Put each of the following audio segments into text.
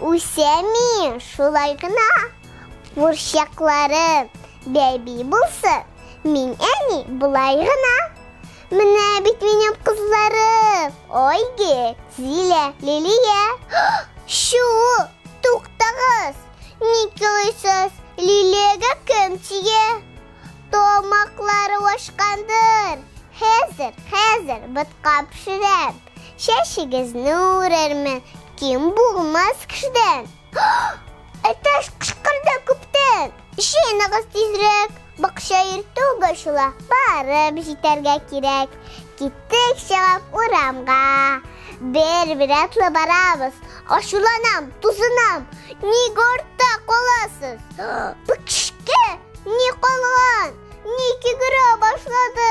Үсәми, шулай гына курчакларым бәби булсын. Мин әни болай гына. Менә бит минем кызларым. Ойге, Зилә, Лилия. Шу, туктагыз. Ник елыйсыз? Лилиягә кем тия? Тамаклары ашкандыр. Хәзер, хәзер ботка пешерәм. Чәчегезне үрермен, ким булмас кешедән. Әтәш кышкырда күптән. Җыеныгыз тизрәк, бакча иртү гачыла, барып җитәргә кирәк. Киттек чыгып урамга. Бер-бер атлы барабыз. Ачуланам, тузынам. Ник артта каласыз? Бу кешкә ни калган? Ник йөгерә башлады?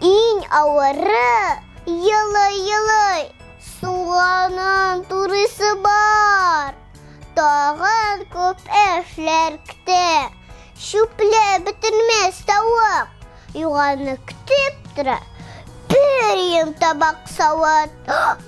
Иң авыры елый-елый суганын турысы бар. Тагын күп эшләр көтә. Чүпле бетермәс тавык. Юганы көтеп тора. Бер ем табак савыт.